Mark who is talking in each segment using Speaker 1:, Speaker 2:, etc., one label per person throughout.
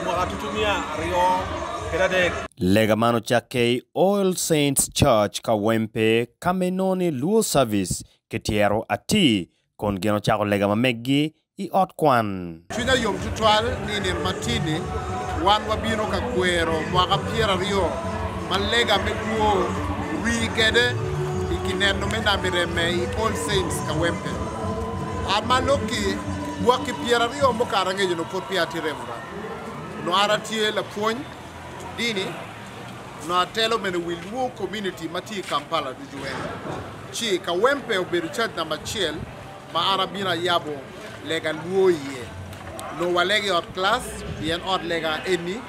Speaker 1: i mwaka ducu miya aryo kede adek. Lega man
Speaker 2: ocakke i All Saints Church, Kawempe, ka ma inongo ni Luo Service ki tyero atir kun gin ocako lega ma meggi i ot kwan. Cwinya yom tutwal
Speaker 3: ni i nino matin-ni wan wabino ka kwero mwaka pyera aryo ma lega me kwo rii kwede i kineno me nami remme i All Saints, Kawempe. A ma lok-ki, Lwak ki pyera aryo mukato angec onongo pud peya atye remora. Onongo an atye lapwony dini, onongo atelo bene wi Luo Community ma tye i Kampala ducu ene. Ci Kawempe obedo caji namba acel ma an abino ayabo lega Luo iye. Onongo walego i ot kilac pien ot lega eni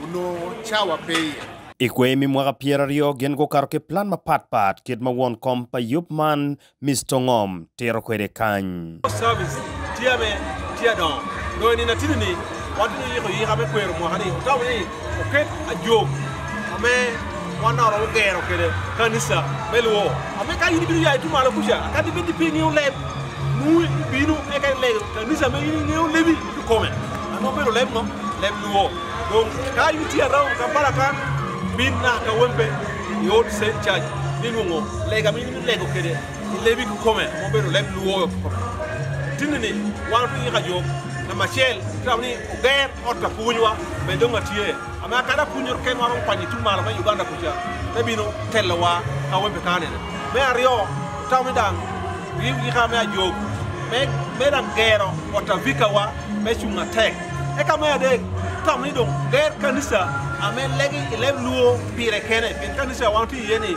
Speaker 3: onongo cawa pe iye. I kwer me mwaka
Speaker 2: pyera aryo gin gukato ki plan mapat pat kit ma won kom pa yub man Mister Ngom tito kwede kany. Post Service tye
Speaker 1: me tye adongo dong i nino atidi ni watwero yiko yika me kwero mwaka ni otamo ni oket ajog ame wan dong waromo gero kwede kanisa me lwo ame ka in ibino ya itum malo kuca akati bed ni pe ingeyo leb nungu ibino eka ilego kanisa ame in ingeyo lebi i kome ame obedo leb ngo leb lwo dong ka in itye around Kampala kan bin naka kawempe i old saint church ni nungu lega ame in lego kwede i lebi kikome ma obedo leb lwoyo kikome. Tinni ni wan otye ki kajok namba acel i taun ni oger ot ka pwonywa bene dong atye ame akada apwonyere ken waromo kwanyo i tung malo me Uganda kuca me bino telowa ka webe ka anene. Me aryo otam ni dang riwu kika me ajok me me dang gero ot avika wa me cung atek. Eka me adek otam ni dong oger kanisa ame legi i leb luo pire kene pien kanisa wan otye iye ni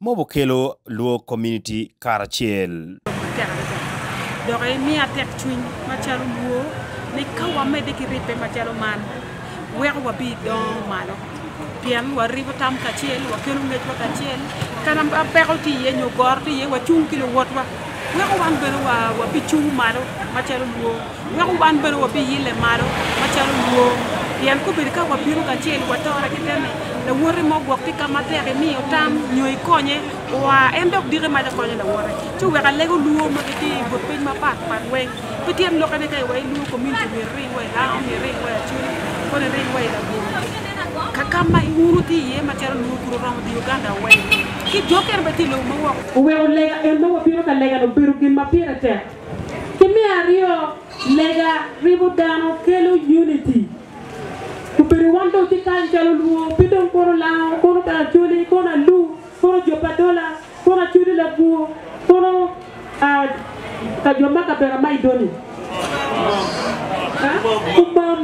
Speaker 2: Mob okelo lwor komuniti karacel. Matek adada.
Speaker 4: Dok imiya tekcwiny macalo lwor ni ka wamedde ki ribbe macalo man, weko wabidongo malo. Pien waribo tam kacel, wakelo ngecwa kacel, ka ma peko tye iye nyo goro tye iye, wacung ki luwotwa, weko wan bene wabicung malo macalo lwor. Wek wan bene wabiyille malo macalo lwong, pien kobedo ka wabino kacel, watore keken-ni. Lawote mo gwok ki ka ma tek imiyo tam nyo ikonye oa, en dok diki mac okonyo lawote. Ci wek alego lwor ma gitye i but piny mapat pat weng. Pi tyen lokkene, ka iwaco lwor komuniti myero iring wa i langa, myero iring wa i acoli, kono iring wa i labongo ka ka ma wun wutye iye macalo lwor kun oromo diyo Ugandawa weng. Ki jo kene bene tye i lobo ma woko. Oweko lega en ma wabino ka legane obedo gin ma pire tek. Ki me aryo, lega ribo dano kelo unity. Obedo wan dong watye kany calo Luo, pe dong kono Lango, kono bene Acholi, kono Alu, kono jo pa Adola, kono Acholi Labwor, kono ka jo ma kabela ma idoni. Umam.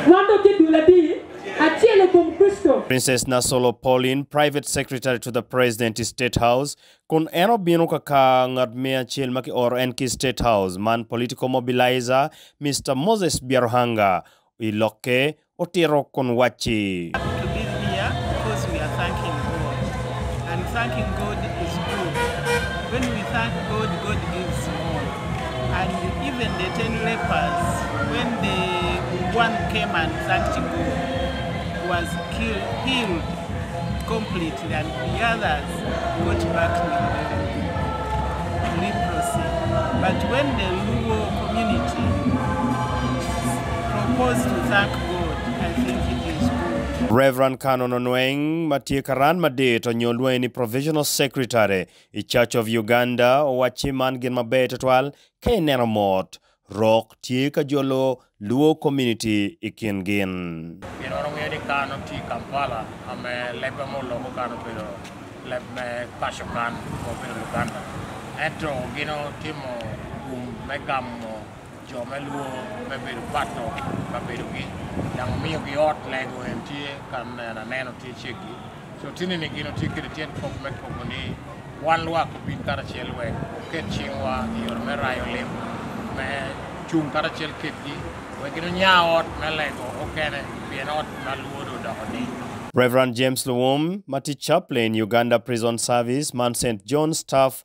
Speaker 4: Wan dong watye dul adi acel i kom Kricito. Princess
Speaker 2: Nasolo Pauline, Private Secretary to the President, State House, Kun en obino ka kar ngat me acel ma kioro en ki i State House, man Political Mobilizer, Mister Moses Byaruhanga, i lokke otito kun wacci.
Speaker 5: Rev. Canon
Speaker 2: Onweng ma tye karan madit onyo lwonge ni Provisional Secretary i Church of Uganda owacci man gin maber tutwal ka ineno mot Rok tye ka jolo Luo Community i kin gin. Gin
Speaker 6: wano wiye ni Kan oti Kampala
Speaker 2: a me
Speaker 6: lebbe mo loko kan obedo leb me paco kan ma obedo Luganda. Ento gin otimo gum me gamo jo me Luo me bedo pato kabedogi dang omiyogi ot lego en tye kan en aneno tye ceggi. Cotineni gin otye kwede tyen kop me kobo ni wan lwak obin karacel wek oket cingwa i yore me rayo lim, me cung karacel kedgi wek gin onya ot me lego okene pien ot ma lwodo odoko-ni. Rev. James
Speaker 2: Luwum ma tye Chaplain Uganda Prison Service man Saint John Staff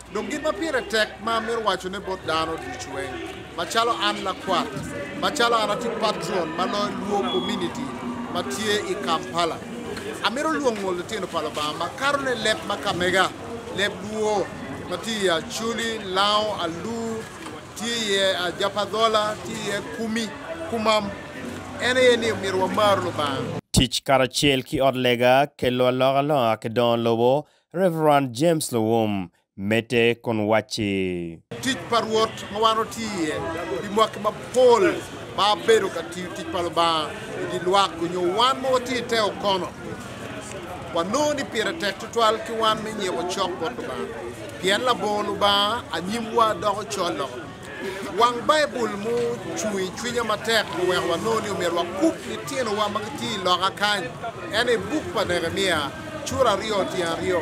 Speaker 3: Dong gin ma pire tek ma amito wacone bot dano ducu eng, macalo an lakwat, macalo an atye patron ma loyo Luo kominiti ma tye i Kampala, amito lwongo litino pa Lubanga ma kato ne leb ma kamega, leb Luo ma tye iye Acholi, Lango, Alur, tye iye Ajapadhola, tye iye Kumi, Kumam. En aye ni omyero wamar Lubanga. Tic karacel
Speaker 2: ki ot lega, kelo alokalonga ki dongo lobo, Rev. James Luwum medde kun wacci. Tic pa Rwot
Speaker 3: ma wan watye iye pi mwaki mapol ma bedo ka tiyo tic pa Lubanga i dye lwak onyo wan ma watye i te okono, wanongo ni pire tek tutwal ki wan me nyiko cok bot Lubanga, pien labongo Lubanga anyimwa doko col loko. Wang Baibul mucung i cwinya matek oweko wanongo ni omyero wakub litinowa ma gitye i loka kany. Ento i buk pa Nekemia, cura aryo tyen aryo,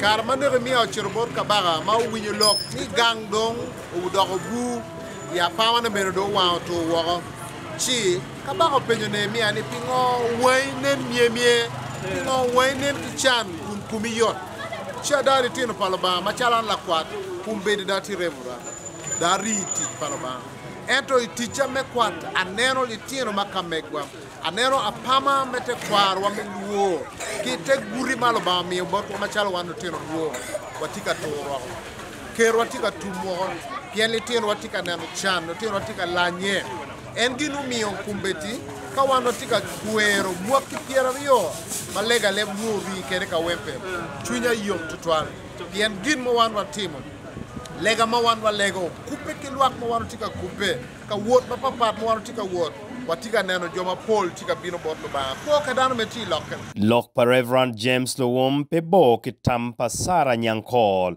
Speaker 3: kare ma Nekemia ocito bot kabaka ma owinyo lok ni gang dong odoko bur, ya pamane bene dong owango otur woko, ci, Kabaka openyo Nehemia ni, Pingo wangi nen myemye? Pingo wangi nen ki can kun komi yot? Ci ada litino pa Lubanga macalo an lakwat, kum bedi da tye remora, da ari i tic pa Lubanga. Ento i ticca me kwat, aneno litino ma kamegwa, aneno apama me tekwarwa me lwor ki te guti ma Lubanga omiyo botwa macalo wan lutino lwor. Watye ka tur woko, kerwa tye ka tum woko, pien litinowa tye ka neno can, litinowa tye ka lanye. En gin omiyo kumbeddi ka wan watye ka kwero mwaki pyeraryo ma legaleb nwo rii kede kawempe, cwinya yom twatwal pien gin ma wan watimo, lega ma wan walego, kubbe ki lwak ma wan watye ka kubbe, ka wot ma papat ma wan watye ka wot, watye ka neno jo mapol tye ka bino bot Lubanga. Kwo ka dano me ti lokke. Lok pa Rev.
Speaker 2: James Luwum pe bor ki tam pa Sarah Nyankol